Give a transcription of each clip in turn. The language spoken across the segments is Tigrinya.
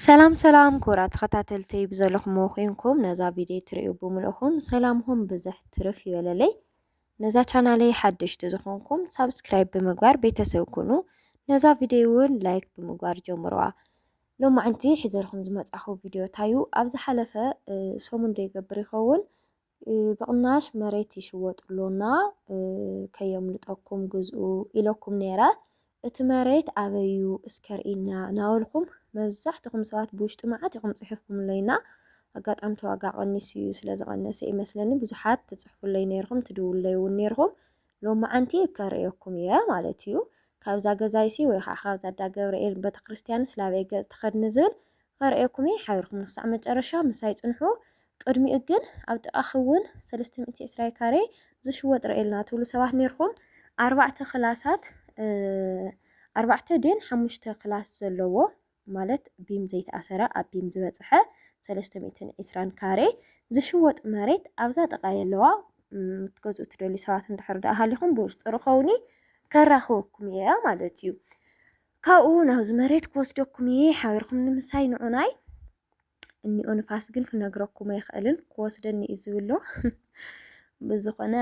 ሰላም ሰላም ክቡራ ተኸታተልቲ ብዘለኹም ኮይንኩም ነዛ ቪድዮ ትሪኡ ብምልእኹም ሰላምኹም ብዝሕ ትርፍ ይበለለይ። ነዛ ቻናለይ ሓደሽቲ ዝኾንኩም ሳብስክራይብ ብምግባር ቤተሰብ ኩኑ። ነዛ ቪድዮ እውን ላይክ ብምግባር ጀምሩዋ። ሎማዕንቲ ሒዘልኩም ዝመፃኹ ቪድዮ ታዩ ኣብ ዝሓለፈ ሰሙን ዶ ይገብር ይኸውን ብቕናሽ መሬት ይሽወጥ'ሎና ከየምልጠኩም ግዝኡ ኢለኩም ነይረ፣ እቲ መሬት ኣበይ'ዩ እስከ ርእይና ናበልኩም መብዛሕትኹም ሰባት ብውሽጢ መዓት ኢኹም ጽሒፍኩምለይና፣ ኣጋጣሚ እቲ ዋጋ ቀኒሱ'ዩ ስለዝቐነሰ'ዩ መስለኒ ብዙሓት ትጽሕፉለይ ነይርኩም ትድውሉለይ'ውን ነይርኩም፣ ሎማዓንቲ ከርእየኩም እየ ማለት እዩ ካብዛ ገዛይሲ ወይ ከዓ ካብዛ ኣዳ ገብርኤል ቤተክርስትያንስ ላበይ ገፅ ትኸድኒ ዝብል ከርእየኩም እየ ሓቢርኩም ክሳዕ መጨረሻ ምሳይ ፅንሑ ቅድሚኡ ግን ኣብ ጥቃኺ እውን ሰለስተ ሚእቲ ዕስራ ካሬ ዝሽወጥ ርእየልና ትብሉ ሰባት ነይርኩም ኣርባዕተ ክላሳት ኣርባዕተ ድየን ሓሙሽተ ክላስ ዘለዎ ማለት ቢም ዘይተኣሰረ ኣብ ቢም ዝበፀሐ ሰለስተ ሚእትን ዒስራን ካሬ ዝሽወጥ መሬት ኣብዛ ጥቃ የለዋ ክትገዝኡ ትደልዩ ሰባት እንድሕር ደኣ ሃሊኹም ብውሽጢ ርኸውኒ ከራኽበኩም እየ ማለት እዩ ካብኡ ናብዚ መሬት ክወስደኩም እየ ሓቢርኩም ንምሳይ ንዑናይ እኒኦ ንፋስ ግን ክነግረኩም ኣይኽእልን ክወስደኒ እዩ ዝብሎ ብዝኾነ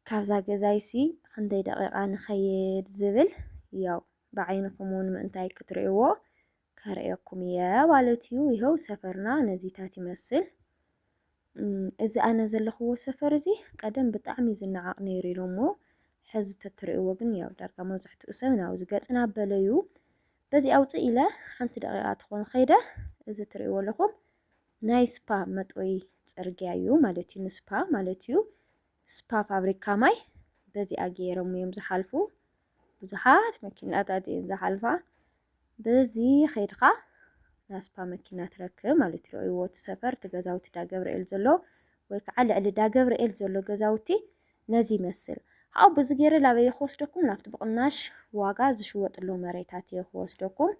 ካብዛ ገዛይሲ ክንደይ ደቂቓ ንኸይድ ዝብል ያው ብዓይንኹም እውን ምእንታይ ክትርእይዎ ከርእየኩም እየ ማለት እዩ። ይኸው ሰፈርና ነዚታት ይመስል። እዚ ኣነ ዘለኽዎ ሰፈር እዚ ቀደም ብጣዕሚ ዝነዓቕ ነይሩ ኢሉ እሞ ሕዚ ተትርእይዎ ግን ያው ዳርጋ መብዛሕትኡ ሰብ ናብዚ ገጽና ኣበለዩ በዚ ኣውፅእ ኢለ ሓንቲ ደቂቓ ትኾን ኸይደ እዚ ትርእይዎ ኣለኹም ናይ ስፓ መጥወይ ፅርግያ እዩ ማለት እዩ ንስፓ ማለት እዩ ስፓ ፋብሪካ ማይ በዚኣ ገይሮም እዮም ዝሓልፉ ብዙሓት መኪናታት እየን ዝሓልፋ በዚ ኸይድካ ናስፓ መኪና ትረክብ ማለት ርእይዎ እቲ ሰፈር እቲ ገዛውቲ ዳገብርኤል ዘሎ ወይ ከዓ ልዕሊ ዳገብርኤል ዘሎ ገዛውቲ ነዚ ይመስል ካብኡ ብዚ ገይረ ላበየ ክወስደኩም ናብቲ ብቕናሽ ዋጋ ዝሽወጥሎ መሬታት እየ ክወስደኩም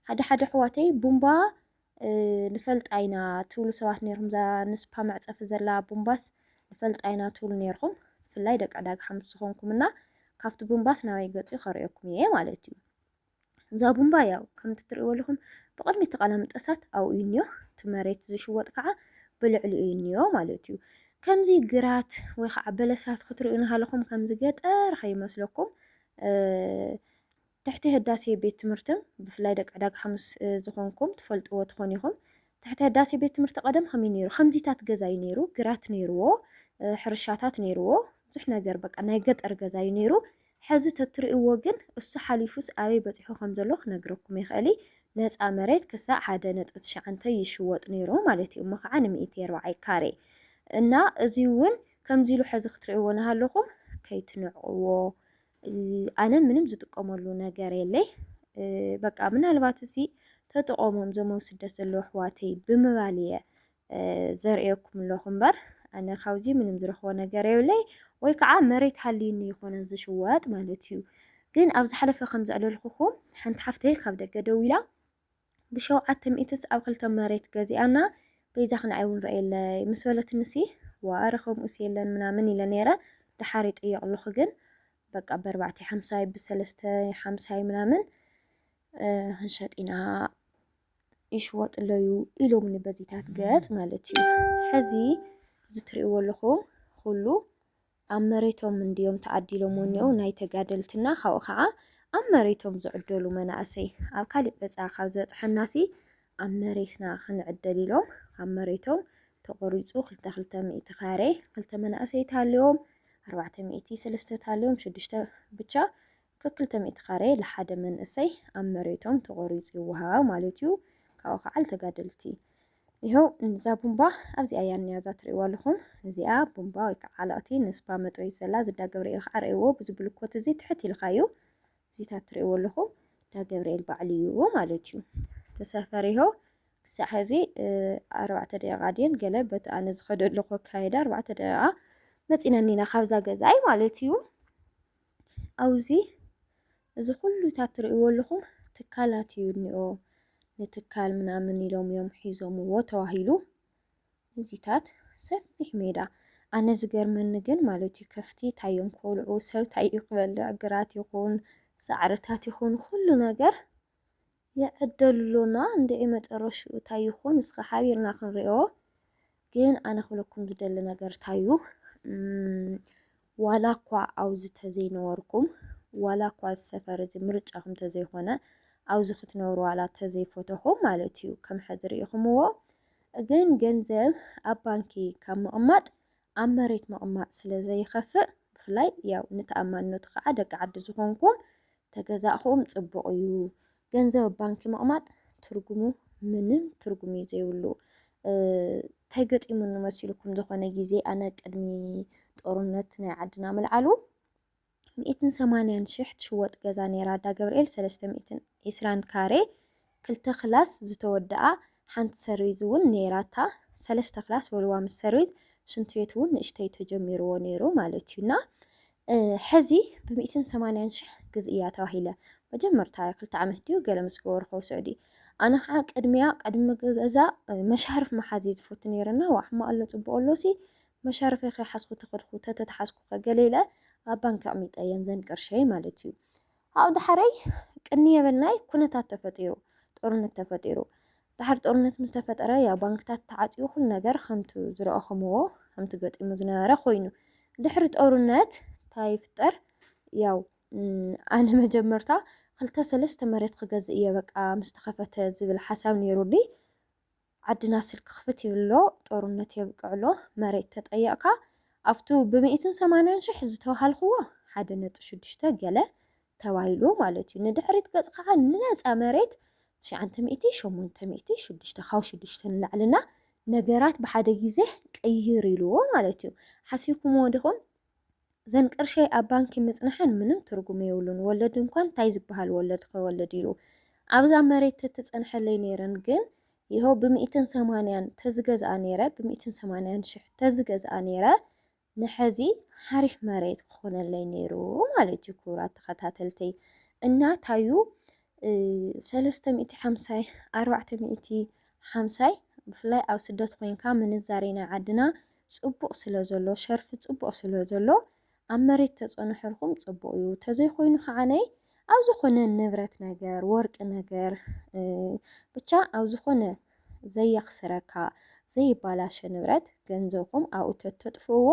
ሓደ ሓደ ኣሕዋተይ ቡምባ ንፈልጣ ኢና ትብሉ ሰባት ነርኩም እዛ ንስፓ መዕጸፊ ዘላ ቡምባስ ንፈልጣ ኢና ትብሉ ነርኩም ብፍላይ ደቂ ዕዳጋ ሓሙስ ዝኾንኩም እና ካብቲ ቡምባስ ናበይ ገጹ ከርእየኩም እየ ማለት እዩ እዛ ቡምባ ያው ከምቲ ትርእይዎ ኣለኹም ብቕድሚ እቲ ቃላምጠሳት ኣብኡ እዩ እኒኦ እቲ መሬት ዝሽወጥ ከዓ ብልዕሊኡ እዩ እኒኦ ማለት እዩ ከምዚ ግራት ወይ ከዓ በለሳት ክትርእዩ ናሃለኹም ከምዚ ገጠር ከይመስለኩም ትሕቲ ህዳሴ ቤት ትምህርትም ብፍላይ ደቂ ዕዳጋ ሓሙስ ዝኾንኩም ትፈልጥዎ ትኾኑ ኢኹም ትሕቲ ህዳሴ ቤት ትምህርቲ ቀደም ከመይ ነይሩ ከምዚታት ገዛ እዩ ነይሩ ግራት ነይርዎ ሕርሻታት ነይርዎ ብዙሕ ነገር በቃ ናይ ገጠር ገዛ እዩ ነይሩ ሐዚ ተትርእዎ ግን እሱ ሓሊፉስ ኣበይ በፂሑ ከም ዘሎ ክነግረኩም ይኽእል ነፃ መሬት ክሳዕ ሓደ ነጥቢ ትሽዓንተ ይሽወጥ ነይሩ ማለት እዩ እሞ ከዓ ንምእቲ ኣርባዓይ ካሬ እና እዙይ እውን ከምዚ ኢሉ ሐዚ ክትርእዎ ናሃለኹም ከይትንዕቅዎ ኣነ ምንም ዝጥቀመሉ ነገር የለይ በቃ ምናልባት እዚ ተጥቆሞም ዘም ኣብ ስደት ዘለዉ ኣሕዋተይ ብምባል እየ ዘርእየኩም ኣለኹ እምበር ኣነ ካብዚ ምንም ዝረኽቦ ነገር የብለይ ወይ ከዓ መሬት ሃልዩኒ ይኮነ ዝሽወጥ ማለት እዩ ግን ኣብ ዝሓለፈ ከም ዘዕለልኩኹም ሓንቲ ሓፍተይ ካብ ደገ ደዊላ ብሸውዓተ ሚእትስ ኣብ ክልተ መሬት ገዚኣና በይዛኺ ንዓይ እውን ርእየለይ ምስ በለትኒሲ ዋእ ኣረ ከምኡስ የለን ምናምን ኢለ ነይረ ደሓር ይጥየቕሉኺ ግን በቃ በርባዕተ ሓምሳይ ብሰለስተ ሓምሳይ ምናምን ክንሸጥ ኢና ይሽወጥለዩ ኢሎምኒ በዚታት ገጽ ማለት እዩ ሕዚ ዝትርእይዎ ኣለኹ ኩሉ ኣብ መሬቶም እንድዮም ተዓዲሎም ወኔኡ ናይ ተጋደልትና ካብኡ ካዓ ኣብ መሬቶም ዝዕደሉ መናእሰይ ኣብ ካሊእ በፃ ካብ ዝበፅሐናሲ ኣብ መሬትና ክንዕደል ኢሎም ካብ መሬቶም ተቆሪፁ ክልተ ክልተ ሚእቲ ካሬ ክልተ መናእሰይ ተሃልዮም ኣርባዕተ ሚእቲ ሰለስተ ተሃልዮም ሽዱሽተ ብቻ ከክልተ ሚእቲ ካሬ ልሓደ መንእሰይ ኣብ መሬቶም ተቆሪጹ ይወሃባ ማለት እዩ ካብኡ ክዓ ልተጋደልቲ ይሀው እዛ ቡምባ ኣብዚኣ እያ እኒኣ እዛ ትርእይዋ ኣለኹም እዚኣ ቡምባ ወይ ከዓ ዓለቕቲ ንስባ መጥበይት ዘላ እዚ እንዳ ገብርኤል ከዓ ርእይዎ ብዚ ብልኮት እዚ ትሕት ኢልካ እዩ እዚታት ትርእይዎ ኣለኹም እንዳ ገብርኤል ባዕሉ እዩ ማለት እዩ ተሰፈር ይሀው ክሳዕ ሕዚ ኣርባዕተ ደቂቃ ድየን ገለ በቲ ኣነ ዝኸደ ኣለኹ ኣካይዳ ኣርባዕተ ደቂቃ መፂና እኒና ካብዛ ገዛይ ማለት እዩ ኣብዙይ እዚ ኩሉታት ትርእይዎ ኣለኹም ትካላት እዩ እኒኦ ንትካል ምናምን ኢሎም እዮም ሒዞምዎ ተባሂሉ እዚታት ሰፊሕ ሜዳ ኣነ ዝገርመኒ ግን ማለት እዩ ከፍቲ እንታይ እዮም ክበልዑ ሰብ እንታይ እዩ ክበልዕ ግራት ይኹን ሳዕርታት ይኹን ኩሉ ነገር የዕደሉና እንድዒ መጨረሽኡ ታይ ይኹን እስከ ሓቢርና ክንሪኦ ግን ኣነ ክብለኩም ዝደሊ ነገር ታዩ ዋላ እኳ ኣብዚ ተዘይነበርኩም ዋላ እኳ እዚ ሰፈር እዚ ምርጫኹም ተዘይኾነ ኣብዚ ክትነብሩ ዋላ ተዘይፈተኹም ማለት እዩ ከም ሕዚ ርኢኹምዎ ግን ገንዘብ ኣብ ባንኪ ካብ ምቕማጥ ኣብ መሬት ምቕማጥ ስለ ዘይኸፍእ ብፍላይ ያው ንተኣማንነቱ ከኣ ደቂ ዓዲ ዝኾንኩም ተገዛእኹም ጽቡቕ እዩ። ገንዘብ ኣብ ባንኪ ምቕማጥ ትርጉሙ ምንም ትርጉም እዩ ዘይብሉ። እንታይ ገጢሙኒ መሲልኩም ዝኾነ ግዜ ኣነ ቅድሚ ጦርነት ናይ ዓድና ምልዓሉ ሚእትን ሰማንያን ሽሕ ትሽወጥ ገዛ ነይራ ዳገብርኤል ሰለስተ ሚእትን ዒስራን ካሬ ክልተ ክላስ ዝተወደኣ ሓንቲ ሰርቪዝ እውን ነይራታ ሰለስተ ክላስ ወልዋ ምስ ሰርቪዝ ሽንት ቤት እውን ንእሽተይ ተጀሚርዎ ነይሩ ማለት እዩ እና ሕዚ ብሚእትን ሰማንያን ሽሕ ግዝ እያ ተባሂለ መጀመርታ ክልተ ዓመት ድዩ ገለ ምስ ገበርኮ ስዑዲ ኣነ ከዓ ቅድሚያ ቅድሚ ገዛ መሻርፍ መሓዝ እዩ ዝፈቱ ነይረና ዋሕማ ኣሎ ፅቡቅ ኣሎሲ መሻርፈይ ከይሓዝኩ ተኸድኩ፣ ተተትሓዝኩኸ? ገለ ኢለ ኣብ ባንኪ ኣቕሚጠየን ዘን ቅርሸይ ማለት እዩ። ኣብኡ ደሓረይ ቅንይ የበልናይ ኩነታት ተፈጢሩ፣ ጦርነት ተፈጢሩ። ደሓር ጦርነት ምስ ተፈጠረ ያው ባንክታት ተዓጽዩ ኩሉ ነገር ከምቱ ዝረኣኹምዎ ከምቲ ገጢሙ ዝነበረ ኮይኑ። ድሕሪ ጦርነት እንታይ ይፍጠር ያው ኣነ መጀመርታ ክልተ ሰለስተ መሬት ክገዝእ እየ በቃ ምስ ተኸፈተ ዝብል ሓሳብ ነይሩኒ። ዓድና ስልኪ ክፍት ይብሎ ጦርነት የብቅዕሎ መሬት ተጠየቅካ ኣብቱ ብሚኢትን ሰማንያን ሽሕ ዝተውሃልክዎ ሓደ ነጥቢ ሽዱሽተ ገለ ተባሂሉ ማለት እዩ ንድሕሪት ገጽ ካዓ ንነጻ መሬት ትሽዓንተ ሚኢቲ ሸሞንተ ሚኢቲ ሽዱሽተ ካብ ሽዱሽተ ንላዕሊ እና ነገራት ብሓደ ግዜ ቅይር ኢልዎ ማለት እዩ ሓሲብኩምዎ ዲኹም እዘን ቅርሸይ ኣብ ባንኪ ምጽንሐን ምንም ትርጉም የብሉን ወለድ እንኳን ታይ ዝባሃል ወለድ ኸወልድ ኢሉ ኣብዛ መሬት ተትጸንሐለይ ነይረን ግን ይሀው ብሚእትን ሰማንያን ተዝገዝኣ ነይረ ብሚእትን ሰማንያን ሽሕ ተዝገዝኣ ነይረ ንሐዚ ሐሪፍ መሬት ክኾነለይ ነይሩ ማለት እዩ ክቡራት ተኸታተልተይ እና ታዩ ሰለስተ ሚእቲ ሓምሳይ ኣርባዕተ ሚእቲ ሓምሳይ ብፍላይ ኣብ ስደት ኮንካ ምንዛሬ ናይ ዓድና ጽቡቅ ስለ ዘሎ ሸርፊ ጽቡቅ ስለ ዘሎ ኣብ መሬት ተጸኑሕርኩም ጽቡቅ እዩ ተዘይ ኮይኑ ከዓነይ ኣብ ዝኮነ ንብረት ነገር ወርቂ ነገር ብቻ ኣብ ዝኮነ ዘየክስረካ ዘይባላሸ ንብረት ገንዘብኩም ኣብኡ ተተጥፍእዎ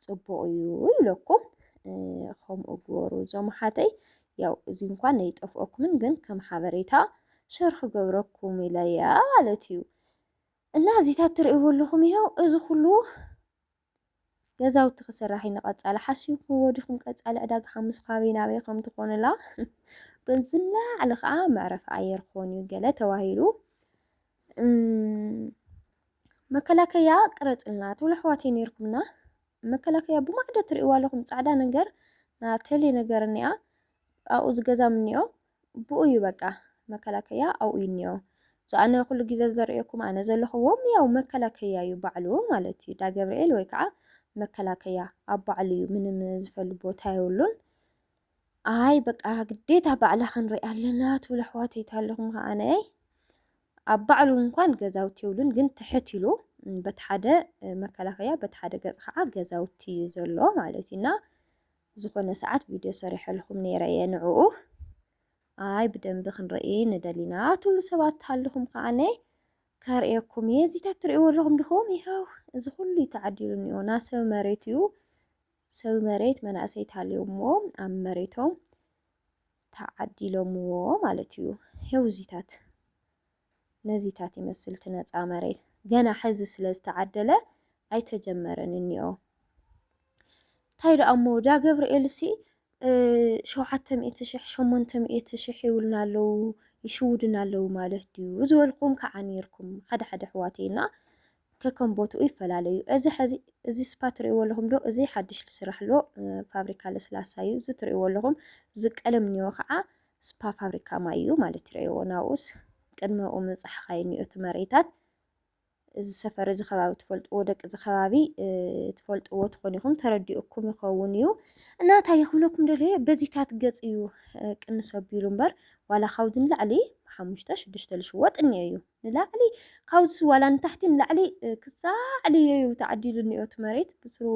ጽቡቅ እዩ ይብለኩም ከምኡ ግበሩ እዞም ሓተይ ያው እዚ እንኳን ኣይጠፍኦኩምን ግን ከም ሓበሬታ ሸር ክገብረኩም ኢለያ ማለት እዩ። እና እዚታት ትርእይዎ ኣለኹም ይኸው እዚ ኩሉ ገዛውቲ ክስራሕ እዩ ንቐፃሊ ሓሲብኩምዎ ዲኹም ቀፃሊ ዕዳጋ ሓሙስ ካበይ ናበይ ከም ትኾኑላ ግን ዝለዓለ ከዓ መዕረፊ ኣየር ክኾን እዩ ገለ ተባሂሉ መከላከያ ቅረፅልና ትብሉ ኣሕዋት ነይርኩምና መከላከያ ብማዕዶ ትርእይዋ ኣለኹም ፃዕዳ ነገር ና ተሌ ነገር እኒኣ ኣብኡ ዝገዛም እኒኦ ብኡ እዩ በቃ መከላከያ ኣብኡ እዩ እኒኦ እዞ ኣነ ኩሉ ግዜ ዘርእየኩም ኣነ ዘለኹዎ ያው መከላከያ እዩ ባዕሉ ማለት እዩ ዳገብርኤል ወይ ከዓ መከላከያ ኣብ ባዕሉ እዩ ምንም ዝፈሉ ቦታ የብሉን ኣይ በቃ ግዴታ ባዕላ ክንርኢ ኣለና ትብሉ ኣሕዋተይ ኣለኹም ከዓ ኣነ ኣብ ባዕሉ እንኳን ገዛውቲ የብሉን ግን ትሕት ኢሉ በቲ ሓደ መከላከያ በቲ ሓደ ገፅ ከዓ ገዛውቲ እዩ ዘሎ ማለት እዩ እና ዝኾነ ሰዓት ቪድዮ ሰሪሐልኹም ነይረ እየ ንዕኡ ኣይ ብደንቢ ክንርኢ ንደሊ ኢና ትብሉ ሰባት ተሃልኹም ከዓነ ከርእየኩም እየ እዚታት ትርእይዎ ኣለኹም ድኹም ይኸው እዚ ኩሉ እዩ ተዓዲሉ እኒኦ ና ሰብ መሬት እዩ ሰብ መሬት መናእሰይ ተሃልዮሞ ኣብ መሬቶም ተዓዲሎምዎ ማለት እዩ ይኸው እዚታት ነዚታት ይመስል እቲ ነጻ መሬት። ገና ሕዚ ስለ ዝተዓደለ ኣይተጀመረን እኒኦ። እንታይ ደኣ እሞ ዳገብርኤልሲ ሸውዓተ ሚእቲ ሽሕ ሸሞንተ ሚእቲ ሽሕ ይብሉና ኣለዉ ይሽውዱና ኣለዉ ማለት ድዩ ዝበልኩም ከዓ ነይርኩም ሓደ ሓደ ኣሕዋተይና ከከም ቦትኡ ይፈላለዩ እዚ ሕዚ እዚ ስፓ ትርእይዎ ኣለኹም ዶ እዚ ሓድሽ ዝስራሕ ኣሎ ፋብሪካ ለስላሳ እዩ እዚ ትርእይዎ ኣለኹም እዚ ቀለም ኒዮ ከዓ ስፓ ፋብሪካ ማይ እዩ ማለት ይረእዎ ናብኡስ ቅድመኡ ምብፃሕኻ እኒኦ እቲ መሬታት እዚ ሰፈር እዚ ከባቢ ትፈልጥዎ ደቂ እዚ ከባቢ ትፈልጥዎ ትኾኑ ኢኹም ተረዲኡኩም ይኸውን እዩ እና እንታይ ይኽብለኩም ደለየ በዚታት ገፅ እዩ ቅንስ ኣቢሉ እምበር ዋላ ካብዚ ንላዕሊ ብሓሙሽተ ሽዱሽተ ልሽወጥ እኒኦ እዩ ንላዕሊ ካብዚ ዋላ ንታሕቲ ንላዕሊ ክሳዕ ልየዩ ተዓዲሉ እኒኦ እቲ መሬት ብትሩ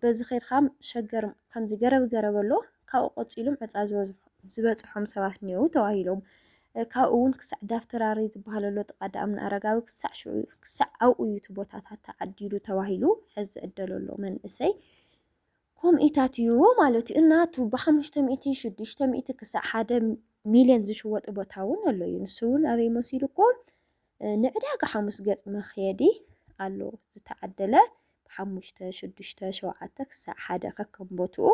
በዚ ኸይድካ ሸገር ከምዚ ገረብ ገረብ ኣሎ ካብኡ ቀፂሎም ዕፃ ዝበፅሖም ሰባት እኒኦው ተባሂሎም ካብኡ እውን ክሳዕ ዳፍተራሪ ዝበሃል ኣሎ ጥቃ ዳእምና ኣረጋዊ ክሳዕ ሽዑ ክሳዕ ኣብኡ እዩ እቲ ቦታታት ተዓዲሉ ተባሂሉ ሕዚ ዝዕደሎ ኣሎ መንእሰይ ኮምኢታት እዩ ማለት እዩ። እናቱ ብሓሙሽተ ሚእቲ፣ ሽዱሽተ ሚእቲ ክሳዕ ሓደ ሚልዮን ዝሽወጥ ቦታ እውን ኣሎ እዩ። ንሱ እውን ኣበይ መሲሉኩም ንዕዳጋ ሓሙስ ገጽ መክየዲ ኣሎ ዝተዓደለ ብሓሙሽተ፣ ሽዱሽተ፣ ሸውዓተ ክሳዕ ሓደ ከከም ቦትኡ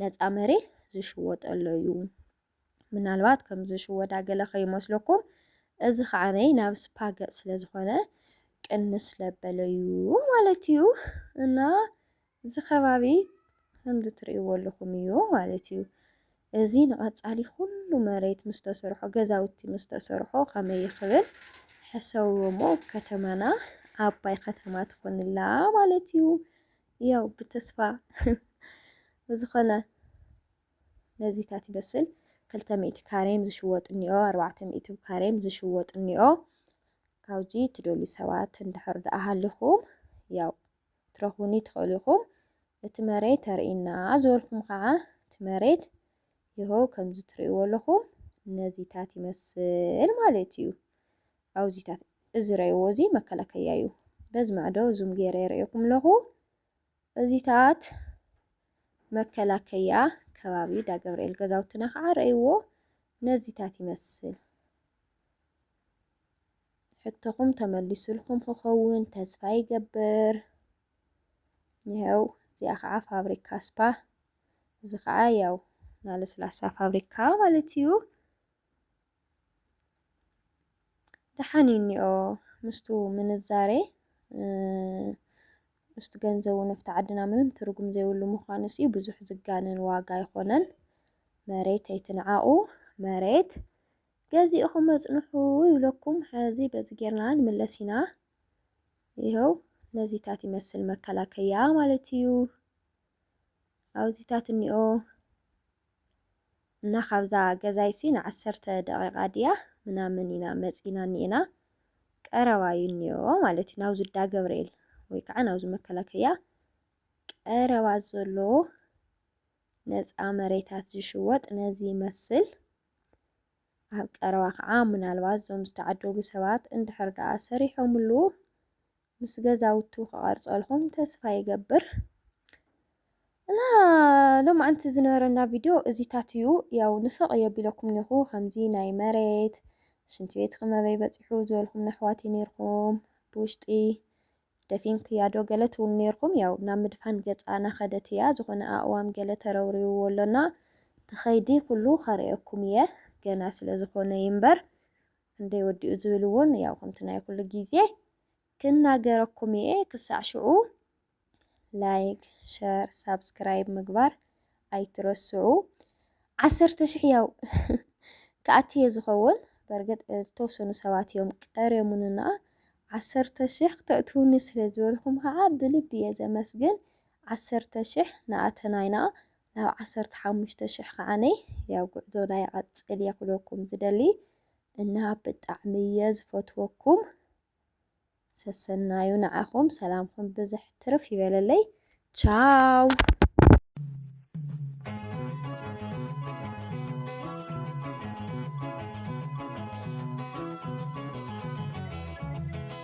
ነፃ መሬት ዝሽወጠሎ እዩ። ምናልባት ከም ዝሽወዳ ገለ ከይመስለኩም እዚ ከዓነይ ናብ ስፓ ገጽ ስለ ዝኾነ ቅንስ ለበለዩ ማለት እዩ እና እዚ ከባቢ ከምዚ ትርእይዎ ኣለኹም እዩ ማለት እዩ። እዚ ንቐጻሊ ኩሉ መሬት ምስ ተሰርሖ ገዛውቲ ምስ ተሰርሖ ከመይ ይኽብል ሕሰቡ እሞ ከተማና ዓባይ ከተማ ትኾንላ ማለት እዩ። ያው ብተስፋ ዝኾነ ነዚታት ይመስል ክልተ ሚእቲ ካሬም ዝሽወጥ እኒኦ ኣርባዕተ ሚእቲ ካሬም ዝሽወጥ እኒኦ ካብዚ ትደልዩ ሰባት እንድሕር ደኣ ሃሊኹም ያው ትረኽቡኒ ትኽእሉ ኢኹም እቲ መሬት ተርእና ዝበልኩም ከዓ እቲ መሬት ይኸው ከምዚ ትርእይዎ ኣለኹም ነዚታት ይመስል ማለት እዩ ኣውዚታት እዚ ረእይዎ እዚ መከላከያ እዩ በዚ ማዕዶ ዙም ገይረ የርእየኩም ኣለኹ እዚታት መከላከያ ከባቢ ዳገብርኤል ገዛውትና ከዓ ረእይዎ ነዚታት ይመስል። ሕቶኹም ተመሊሱልኩም ክኸውን ተስፋ ይገብር። ይኸው እዚኣ ከዓ ፋብሪካ ስፓ፣ እዚ ከዓ ያው ናለስላሳ ፋብሪካ ማለት እዩ። ደሓን እዩ እኒኦ ምስቱ ምንዛሬ ምስቱ ገንዘቡ ነፍቲ ዓድና ምንም ትርጉም ዘይብሉ ምዃኑስ እዩ ብዙሕ ዝጋነን ዋጋ ኣይኮነን። መሬት ኣይትንዓቑ መሬት ገዚእኹም መጽንሑ ይብለኩም። ሕዚ በዚ ጌርና ንምለስ ኢና። ይኸው ነዚታት ይመስል መከላከያ ማለት እዩ። ኣብዚታት እኒኦ እና ካብዛ ገዛይሲ ንዓሰርተ ደቒቓ ድያ ምናምን ኢና መጺእና እኒኤና፣ ቀረባ እዩ እኒኦ ማለት እዩ፣ ናብዚ እንዳ ገብርኤል ወይ ከዓ ናብዚ መከላከያ ቀረባ ዘሎ ነፃ መሬታት ዝሽወጥ ነዚ ይመስል። ኣብ ቀረባ ከዓ ምናልባት እዞም ዝተዓደሉ ሰባት እንድሕር ደኣ ሰሪሖምሉ ምስ ገዛውቱ ክቐርጸልኹም ተስፋ ይገብር እና ሎማዓንቲ ዝነበረና ቪድዮ እዚታት እዩ ያው ንፍቕ የቢለኩም ኒኹ ከምዚ ናይ መሬት ሽንቲ ቤት ክመበይ በፂሑ ዝበልኩም ነሕዋት ኔርኩም ብውሽጢ ደፊን ክያዶ ገለ ትብሉ ኔርኩም ያው ናብ ምድፋን ገፃ ናኸደት እያ ዝኾነ ኣእዋም ገለ ተረውሪውዎ ኣሎና ትኸይዲ ኩሉ ከርእየኩም እየ ገና ስለ ዝኾነ ይንበር ክንደይ ወዲኡ ዝብል እውን ያው ከምቲ ናይ ኩሉ ግዜ ክናገረኩም እየ ክሳዕ ሽዑ ላይክ ሸር ሳብስክራይብ ምግባር ኣይትረስዑ ዓሰርተ ሽሕ ያው ክኣቲ እየ ዝኸውን በርግጥ ዝተወሰኑ ሰባት እዮም ቀርዮሙንና ዓሰርተ ሽሕ ክተእትውኒ ስለ ዝበልኩም ከዓ ብልቢ እየ ዘመስግን ዓሰርተ ሽሕ ንኣተናይና ናብ ዓሰርተ ሓሙሽተ ሽሕ ከዓነይ ያው ጉዕዞና ይቐጽል እየ ክብለኩም ዝደሊ እና ብጣዕሚ እየ ዝፈትወኩም ሰሰናዩ ንዓኹም ሰላምኩም ብዝሕ ትርፍ ይበለለይ ቻው